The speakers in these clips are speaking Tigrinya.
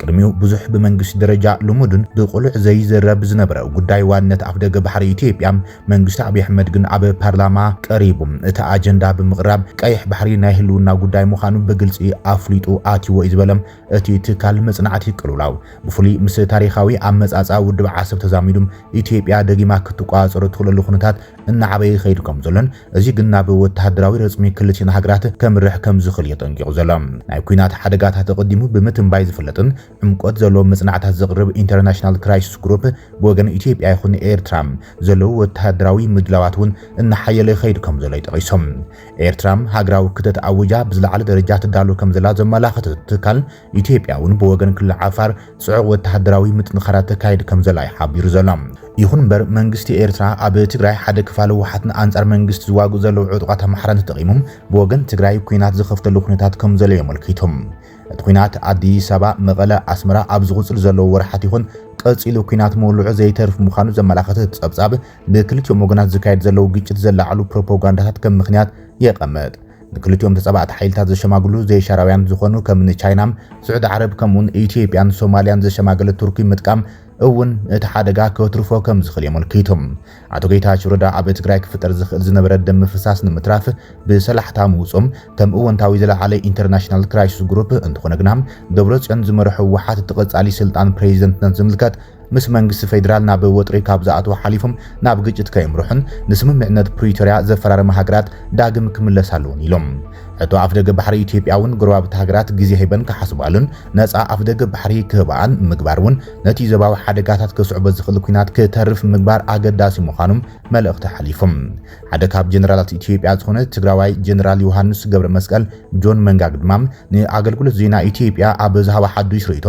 ቅድሚኡ ብዙሕ ብመንግስቲ ደረጃ ልሙድን ብቅሉዕ ዘይዝረብ ዝነበረ ጉዳይ ዋንነት ኣፍደገ ባሕሪ ኢትዮጵያ መንግስቲ ኣብይ ኣሕመድ ግን ኣብ ፓርላማ ቀሪቡ እቲ ኣጀንዳ ብምቕራብ ቀይሕ ባሕሪ ናይ ህልውና ጉዳይ ምዃኑ ብግልፂ ኣፍሊጡ ኣትይዎ እዩ ዝበለ እቲ ትካል መፅናዕቲ ቅልውላው ብፍሉይ ምስ ታሪኻዊ ኣመፃፅኣ ውድብ ዓሰብ ተዛሚዱ ኢትዮጵያ ደጊማ ክትቆፃፀሮ እትኽእለሉ ኩነታት እናዓበየ ይኸይድ ከምዘሎን እዚ ግን ናብ ወተሃደራዊ ረጽሚ ክልቲኤን ሃገራት ከምርሕ ከምዝኽል እዩ ኣጠንቂቑ ዘሎ። ናይ ኲናት ሓደጋታት ኣቐዲሙ ብምትንባይ ዝፍለጥን ዕምቆት ዘለዎም መጽናዕታት ዘቕርብ ኢንተርናሽናል ክራይሲስ ግሩፕ ብወገን ኢትዮጵያ ይኹን ኤርትራ ዘለዉ ወተሃደራዊ ምድላዋት እውን እናሓየለ ይኸይድ ከምዘሎ እዩ ጠቒሱ። ኤርትራ ሃገራዊ ክተት ኣዊጃ ብዝለዓለ ደረጃ ትዳሎ ከምዘላ ዘመላኽት እቲ ትካል፣ ኢትዮጵያ እውን ብወገን ክልል ዓፋር ጽዑቕ ወተሃደራዊ ምጥንኻራት ተካይድ ከምዘላ እዩ ሓቢሩ ዘሎ። ይኹን እምበር መንግስቲ ኤርትራ ኣብ ትግራይ ሓደ ክፋል ህወሓት ንኣንጻር መንግስቲ ዝዋግኡ ዘለዉ ዕጡቓት ኣምሓራን ተጠቒሙ ብወገን ትግራይ ኲናት ዝኸፍተሉ ኩነታት ከምዘሎ እዩ ኣመልኪቱ። እቲ ኲናት ኣዲስ ኣበባ፣ መቐለ፣ ኣስመራ ኣብ ዝቕጽሉ ዘለዉ ወርሓት ይኹን ቀጺሉ ኲናት ምውልዑ ዘይተርፍ ምዃኑ ዘመላኸተ እቲ ጸብጻብ ብክልቲኦም ወገናት ዝካየድ ዘለዉ ግጭት ዘላዕሉ ፕሮፖጋንዳታት ከም ምኽንያት የቐምጥ። ንክልቲኦም ተጻባእቲ ሓይልታት ዘሸማግሉ ዘይሻራውያን ዝኾኑ ከምኒ ቻይና፣ ስዑዲ ዓረብ ከምኡውን ኢትዮጵያን ሶማልያን ዘሸማገለት ቱርኪ ምጥቃም እውን እቲ ሓደጋ ከትርፎ ከም ዝኽእል የመልኪቱ። ኣቶ ጌታቸው ረዳ ኣብ ትግራይ ክፍጠር ዝኽእል ዝነበረ ደም ምፍሳስ ንምትራፍ ብሰላሕታ ምውጾም ከም እወንታዊ ዝለዓለ ኢንተርናሽናል ክራይሲስ ግሩፕ፣ እንተኾነ ግና ደብረጽዮን ዝመርሖ ህወሓት እቲ ቀጻሊ ስልጣን ፕሬዚደንትነት ዝምልከት ምስ መንግስቲ ፌደራል ናብ ወጥሪ ካብ ዝኣትዉ ሓሊፎም ናብ ግጭት ከየምርሑን ንስምምዕነት ፕሪቶርያ ዘፈራረማ ሃገራት ዳግም ክምለሳ ኣለዎን ኢሎም። ሕቶ ኣፍደገ ባሕሪ ኢትዮጵያ እውን ጎረባብቲ ሃገራት ግዜ ሂበን ክሓስባሉን ነፃ ኣፍደገ ባሕሪ ክህባኣን ምግባር እውን ነቲ ዞባዊ ሓደጋታት ከስዕቦ ዝኽእል ኲናት ክተርፍ ምግባር ኣገዳሲ ምዃኑ መልእኽቲ ሓሊፎም። ሓደ ካብ ጀነራላት ኢትዮጵያ ዝኾነ ትግራዋይ ጀነራል ዮሃንስ ገብረመስቀል፣ ጆን መንጋግ፣ ድማ ንኣገልግሎት ዜና ኢትዮጵያ ኣብ ዝሃቦ ሓዱሽ ርእይቶ፣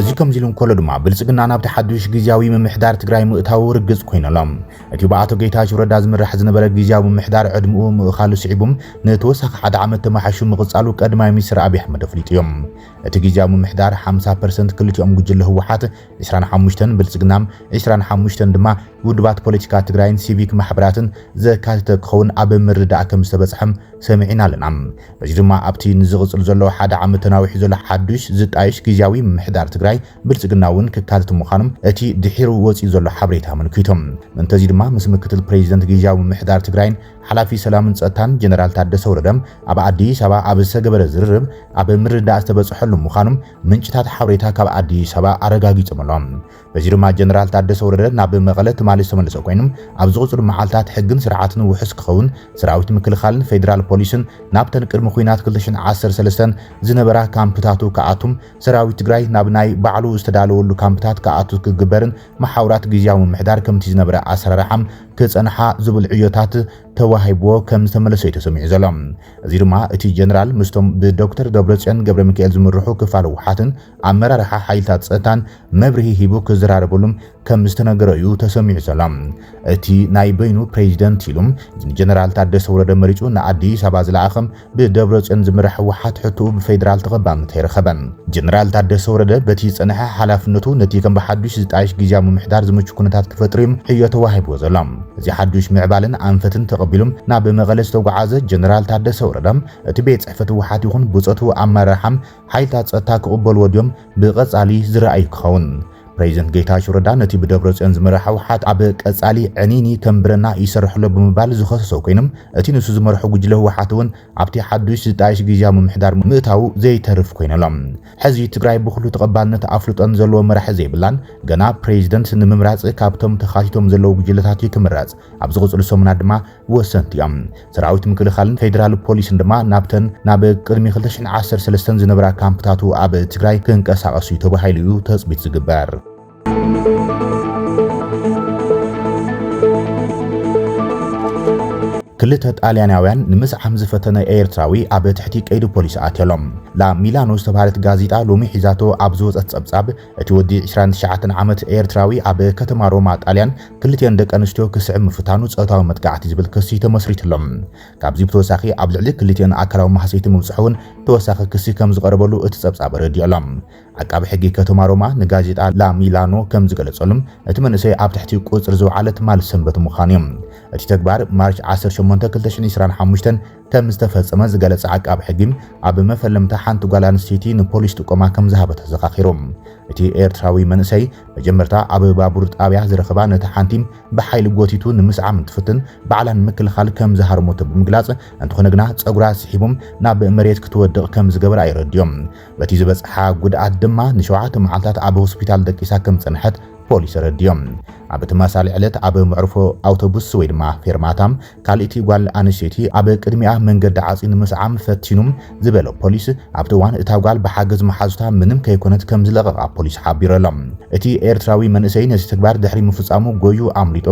እዚ ከምዚ ኢሉ እንከሎ ድማ ብልጽግና ናብቲ ሓዱሽ ግዝያዊ ምምሕዳር ትግራይ ምእታዉ ርግጽ ኮይኑ ኣሎ። እቲ ብኣቶ ጌታቸው ረዳ ዝምራሕ ዝነበረ ግዝያዊ ምምሕዳር ዕድምኡ ምእኻሉ ስዒቡ ንተወሳኺ ሓደ ዓመት ተመሓሹ ምቕጻሉ ቀዳማይ ሚኒስትር ኣብዪ ኣሕመድ ኣፍሊጡ እዩ። እቲ ግዝያዊ ምምሕዳር 50 ፐርሰንት ክልቲኦም ጉጅለ ህወሓት ዕስራን ሓሙሽተን ብልፅግና፣ ዕስራን ሓሙሽተን ድማ ውድባት ፖለቲካ ትግራይን ሲቪክ ማሕበራትን ዘካተተ ክኸውን ኣብ ምርድዳእ ከምዝተበፅሐ ሰሚዕና ኣለና። በዚ ድማ ኣብቲ ንዝቕፅል ዘሎ ሓደ ዓመት ተናዊሑ ዘሎ ሓዱሽ ዝጣየሽ ግዝያዊ ምምሕዳር ትግራይ ብልፅግና እውን ክካተት ምዃኑ እቲ ድሒሩ ወፂኡ ዘሎ ሓበሬታ ኣመልኪቱ። ምእንተ እዚ ድማ ምስ ምክትል ፕሬዚደንት ግዝያዊ ምምሕዳር ትግራይን ሓላፊ ሰላምን ፀጥታን ጀነራል ታደሰ ወረደ ኣብ ኣዲስ ኣበባ ኣብ ዝተገበረ ዝርርብ ኣብ ምርድዳእ ዝተበፅሐሉ ምዃኑ ምንጭታት ሓበሬታ ካብ ኣዲስ ኣበባ ኣረጋጊጾም ኣሎም። በዚ ድማ ጀነራል ታደሰ ወረደ ናብ መቐለ ትማሊ ዝተመለሰ ኮይኑ ኣብ ዝቕጽሉ መዓልታት ሕግን ስርዓትን ውሑስ ክኸውን ሰራዊት ምክልኻልን ፌደራል ፖሊስን ናብተን ቅድሚ ኹናት 2013 ዝነበራ ካምፕታቱ ክኣቱም ሰራዊት ትግራይ ናብ ናይ ባዕሉ ዝተዳለወሉ ካምፕታት ክኣቱ ክግበርን መሓውራት ግዝያዊ ምምሕዳር ከምቲ ዝነበረ ኣሰራርሓ ክጸንሓ ዝብል ዕዮታት ተዋሂብዎ ከም ዝተመለሰ'ዩ ተሰሚዑ ዘሎ። እዚ ድማ እቲ ጀነራል ምስቶም ብዶክተር ደብረጽዮን ገብረሚካኤል ዝምርሑ ክፋል ህወሓትን ኣመራርሓ ሓይልታት ጸጥታን መብርሂ ሂቡ ክዘራረበሉም ከም ዝተነገሮ'ዩ ተሰሚዑ ዘሎ። እቲ ናይ በይኑ ፕረዚደንት ኢሉ ንጀነራል ታደሰ ወረደ መሪጹ ንኣዲስ ኣበባ ዝለኣኸ ብደብረጽዮን ዝምራሕ ህወሓት ሕቶኡ ብፌደራል ተቐባልነት ኣይረኸበን። ጀነራል ታደሰ ወረደ በቲ ዝጸነሐ ሓላፍነቱ ነቲ ከም ብሓዱሽ ዝጣየሽ ግዝያዊ ምምሕዳር ዝምቹ ኩነታት ክፈጥር'ዩ ዕዮ ተዋሂብዎ ዘሎ። እዚ ሓዱሽ ምዕባለን ኣንፈትን ተቐቢሉ ናብ መቐለ ዝተጓዓዘ ጀነራል ታደሰ ወረደ እቲ ቤት ጽሕፈት ህወሓት ይኹን ብጾቱ ኣመራርሓ ሓይልታት ጸጥታ ክቕበልዎ ድዮም ብቐጻሊ ዝረኣይ ክኸውን። ፕሬዚደንት ጌታቸው ረዳ ነቲ ብደብረጽዮን ዝምራሕ ህውሓት ኣብ ቀጻሊ ዕንይንይ ከም ብረና ይሰርሕ'ሎ ብምባል ዝኸሰሶ ኮይኖም እቲ ንሱ ዝመርሖ ጉጅለ ህውሓት እውን ኣብቲ ሓዱሽ ዝጣየሽ ግዝያዊ ምምሕዳር ምእታዉ ዘይተርፍ ኮይኑ'ሎ። ሕዚ ትግራይ ብኹሉ ተቐባልነት ኣፍልጦን ዘለዎ መራሒ ዘይብላን ገና ፕሬዚደንት ንምምራጽ ካብቶም ተኻቲቶም ዘለዉ ጉጅለታት እዩ ክምረጽ። ኣብ ዝቕጽሉ ሰሙናት ድማ ወሰንቲ እዮም። ሰራዊት ምክልኻልን ፌደራል ፖሊስን ድማ ናብተን ናብ ቅድሚ 2013 ዝነበራ ካምፕታቱ ኣብ ትግራይ ክንቀሳቐሱ እዩ ተባሂሉ እዩ ተፅቢት ዝግበር። ክልተ ጣልያናውያን ንምስዓም ዝፈተነ ኤርትራዊ ኣብ ትሕቲ ቀይዲ ፖሊስ ኣትየሎም። ላ ሚላኖ ዝተባህለት ጋዜጣ ሎሚ ሒዛቶ ኣብ ዝወጸት ጸብጻብ እቲ ወዲ ዕስራን ትሽዓተን ዓመት ኤርትራዊ ኣብ ከተማ ሮማ ጣልያን ክልቲኤን ደቂ ኣንስትዮ ክስዕብ ምፍታኑ ጾታዊ መጥቃዕቲ ዝብል ክሲ ተመስሪትሎ። ካብዚ ብተወሳኺ ኣብ ልዕሊ ክልቲኤን ኣካላዊ ማህሰይቲ ምብጽሑ እውን ተወሳኺ ክሲ ከምዝቐረበሉ እቲ ጸብጻብ ኣረዲኡ ኣሎ። ዓቃቢ ሕጊ ከተማ ሮማ ንጋዜጣ ላ ሚላኖ ከምዝገለጸሉ እቲ መንእሰይ ኣብ ትሕቲ ቁጽሪ ዝውዓለ ትማል ሰንበት ምዃኑ እዩ። እቲ ተግባር ማርች ዓሰርተ ሸሞንተ ክልተ ሽሕን ዕስራን ሓሙሽተን ከም ዝተፈጸመ ዝገለጸ ዓቃቢ ሕጊ፣ ኣብ መፈለምታ ሓንቲ ጓል ኣንስተይቲ ንፖሊስ ጥቆማ ከም ዝሃበ ተዘኻኺሩ። እቲ ኤርትራዊ መንእሰይ፣ መጀመርታ ኣብ ባቡር ጣብያ ዝረኸባ ነታ ሓንቲ ብሓይሊ ጎቲቱ ንምስዓም እንትፍትን ባዕላ ንምክልኻል ከም ዝሃረመቶ ብምግላጽ፣ እንተኾነ ግና ጸጉራ ስሒቡ ናብ መሬት ክትወድቕ ከም ዝገበራ የረድኦ። በቲ ዝበጽሓ ጉድኣት ድማ ንሸውዓተ መዓልታት ኣብ ሆስፒታል ደቂሳ ከም ዝጸንሐት ፖሊስ ኣረዲኦም። ኣብ ተመሳሳሊ ዕለት ኣብ መዕርፎ ኣውቶቡስ ወይ ድማ ፌርማታ ካልእቲ ጓል ኣንስተይቲ ኣብ ቅድሚኣ መንገዲ ዓጽዩ ንምስዓም ፈቲኑ ዝበለ ፖሊስ፣ ኣብቲ እዋን እታ ጓል ብሓገዝ መሓዙታ ምንም ከይኮነት ከምዝለቐቓ ፖሊስ ሓቢሩ ኣሎ። እቲ ኤርትራዊ መንእሰይ ነዚ ተግባር ድሕሪ ምፍጻሙ ጎዩ ኣምሊጡ።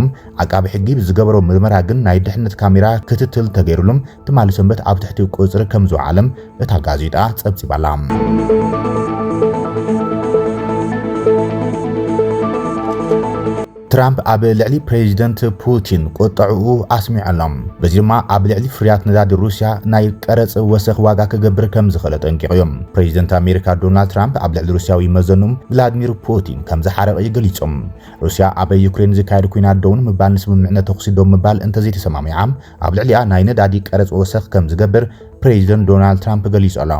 ዓቃቢ ሕጊ ብዝገበሮ ምርመራ ግን ናይ ድሕነት ካሜራ ክትትል ተገይርሉ ትማሊ ሰንበት ኣብ ትሕቲ ቁጽሪ ከምዝወዓለ እታ ጋዜጣ ጸብጺባ ኣላ። ትራምፕ ኣብ ልዕሊ ፕሬዚደንት ፑቲን ቁጠዕኡ ኣስሚዑ ኣሎ፣ በዚ ድማ ኣብ ልዕሊ ፍርያት ነዳዲ ሩስያ ናይ ቀረጽ ወሰኽ ዋጋ ክገብር ከም ዝኽእል ኣጠንቂቑ እዩ። ፕሬዚደንት ኣሜሪካ ዶናልድ ትራምፕ ኣብ ልዕሊ ሩስያዊ መዘኑ ቭላድሚር ፑቲን ከም ዝሓረቐ እዩ ገሊጹ። ሩስያ ኣብ ዩክሬን ዝካየድ ኲናት ደው ንምባል ንስምምዕነት ተኹሲ ደው ምባል እንተዘይተሰማሚዓ ኣብ ልዕሊኣ ናይ ነዳዲ ቀረጽ ወሰኽ ከም ዝገብር ፕሬዚደንት ዶናልድ ትራምፕ ገሊጹ ኣሎ።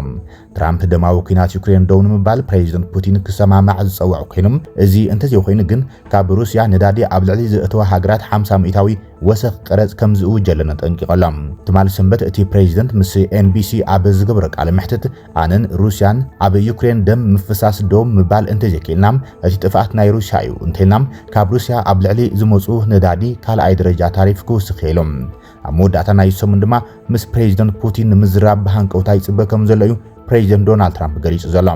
ትራምፕ ደማዊ ኲናት ዩክሬን ደው ንምባል ፕሬዚደንት ፑቲን ክሰማማዕ ዝጸውዕ ኮይኑ እዚ እንተዘይኮይኑ ግን ካብ ሩስያ ነዳዲ ኣብ ልዕሊ ዘእተዋ ሃገራት ሓምሳ ሚእታዊ ወሰኽ ቀረጽ ከም ዝእውጀለን ኣጠንቂቑ ኣሎ። ትማል ሰንበት እቲ ፕሬዚደንት ምስ ኤንቢሲ ኣብ ዝገበሮ ቃለ መሕትት ኣነን ሩስያን ኣብ ዩክሬን ደም ምፍሳስ ደው ምባል እንተዘይክኢልና እቲ ጥፍኣት ናይ ሩስያ እዩ እንተኢልና ካብ ሩስያ ኣብ ልዕሊ ዝመጹ ነዳዲ ካልኣይ ደረጃ ታሪፍ ክውስኽ እየ ኢሉ። ኣብ መወዳእታ ናይዚ ሰሙን ድማ ምስ ፕሬዚደንት ፑቲን ንምዝራብ ብሃንቀውታ ይጽበ ከም ዘሎ እዩ ፕሬዚደንት ዶናልድ ትራምፕ ገሊጹ ዘሎ።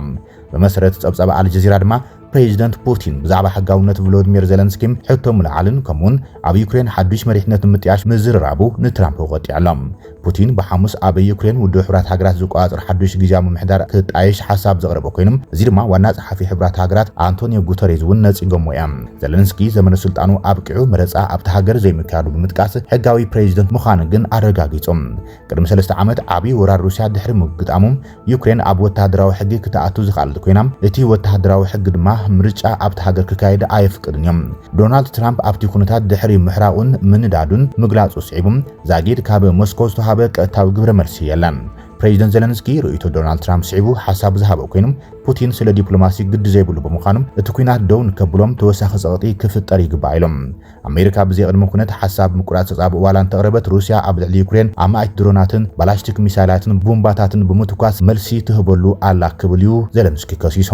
ብመሰረት ጸብጻብ ኣልጀዚራ ድማ ፕሬዚደንት ፑቲን ብዛዕባ ሕጋውነት ቮሎድሚር ዘለንስኪ ሕቶ ምልዓልን ከምኡ'ውን ኣብ ዩክሬን ሓድሽ መሪሕነት ንምጥያሽ ምዝርራቡ ንትራምፕ ወቂዑ ኣሎ። ፑቲን ብሓሙስ ኣብ ዩክሬን ውድብ ሕቡራት ሃገራት ዝቆጻጸር ሓድሽ ግዝያዊ ምምሕዳር ክጣየሽ ሓሳብ ዘቕረበ ኮይኑ እዚ ድማ ዋና ጸሓፊ ሕቡራት ሃገራት ኣንቶንዮ ጉተሬዝ እውን ነጺጎሞ እዮም። ዘለንስኪ ዘመነ ስልጣኑ ኣብቂዑ መረጻ ኣብታ ሃገር ዘይምክያዱ ብምጥቃስ፣ ሕጋዊ ፕሬዚደንት ምዃኑ ግን ኣረጋጊጹ። ቅድሚ ሰለስተ ዓመት ዓቢ ወራር ሩስያ ድሕሪ ምግጣሙ፣ ዩክሬን ኣብ ወተሃደራዊ ሕጊ ክትኣቱ ዝኸኣለት ኮይና፣ እቲ ወተሃደራዊ ሕጊ ድማ ምርጫ ኣብታ ሃገር ክካየድ ኣየፍቅድን እዩ። ዶናልድ ትራምፕ ኣብቲ ኩነታት ድሕሪ ምሕራቑን ምንዳዱን ምግላጹ ስዒቡ፣ ዛጊድ ካብ ሞስኮ ዝተውሃበ ቀጥታዊ ግብረ መልሲ የለን። ፕሬዚደንት ዘለንስኪ ርእይቶ ዶናልድ ትራምፕ ስዒቡ ሓሳቡ ዝሃበ ኮይኑ፣ ፑቲን ስለ ዲፕሎማሲ ግዲ ዘይብሉ ብምዃኑ እቲ ኲናት ደው ንከብሎም ተወሳኺ ጸቕጢ ክፍጠር ይግባእ ኢሎም። ኣሜሪካ ብዘይ ቅድመ ኩነት ሓሳብ ምቁራጽ ተጻብኦ ዋላ እንተቕረበት ሩስያ ኣብ ልዕሊ ዩክሬን ኣማኢት ድሮናትን ባላስቲክ ሚሳይላትን ቡምባታትን ብምትኳስ መልሲ ትህበሉ ኣላ ክብል እዩ ዘለንስኪ ከሲሱ።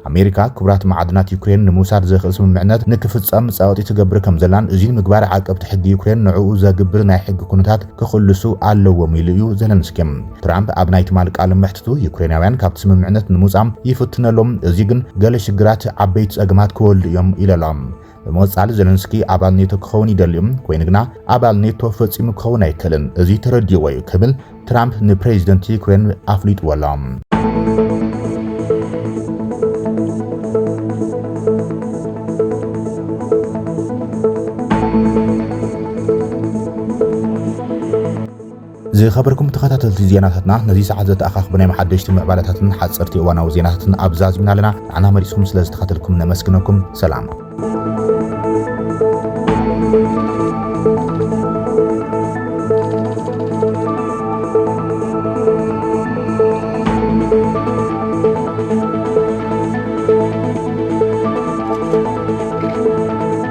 ኣሜሪካ ክቡራት መዓድናት ዩክሬን ንምውሳድ ዘኽእል ስምምዕነት ንክፍጸም ጸቕጢ ትገብር ከምዘላን እዙይ ንምግባር ዓቀብቲ ሕጊ ዩክሬን ንዕኡ ዘግብር ናይ ሕጊ ኩነታት ክኽልሱ ኣለዎም ኢሉ እዩ ዘለንስኪ። ትራምፕ ኣብ ናይ ትማል ቃለ መሕትቱ ዩክሬናውያን ካብቲ ስምምዕነት ንምውጻእ ይፍትኑ ኣሎም፣ እዚ ግን ገለ ሽግራት ዓበይቲ ጸገማት ክወልዱ እዮም ኢሉ ኣሎ። ብምቕጻል ዘለንስኪ ኣባል ኔቶ ክኸውን ይደሊ እዩ፣ ኮይኑ ግና ኣባል ኔቶ ፈጺሙ ክኸውን ኣይክእልን፣ እዚ ተረዲእዎ እዩ ክብል ትራምፕ ንፕሬዚደንት ዩክሬን ኣፍሊጥዎ ኣሎ። ዝኸበርኩም ተኸታተልቲ ዜናታትና ነዚ ሰዓት ዘተኣኻኽቡ ናይ መሓደሽቲ ምዕባለታትን ሓጸርቲ እዋናዊ ዜናታትን ኣብዛ ኣዝምና ኣለና። ንዓና መሪጽኩም ስለ ዝተኸተልኩም ነመስግነኩም። ሰላም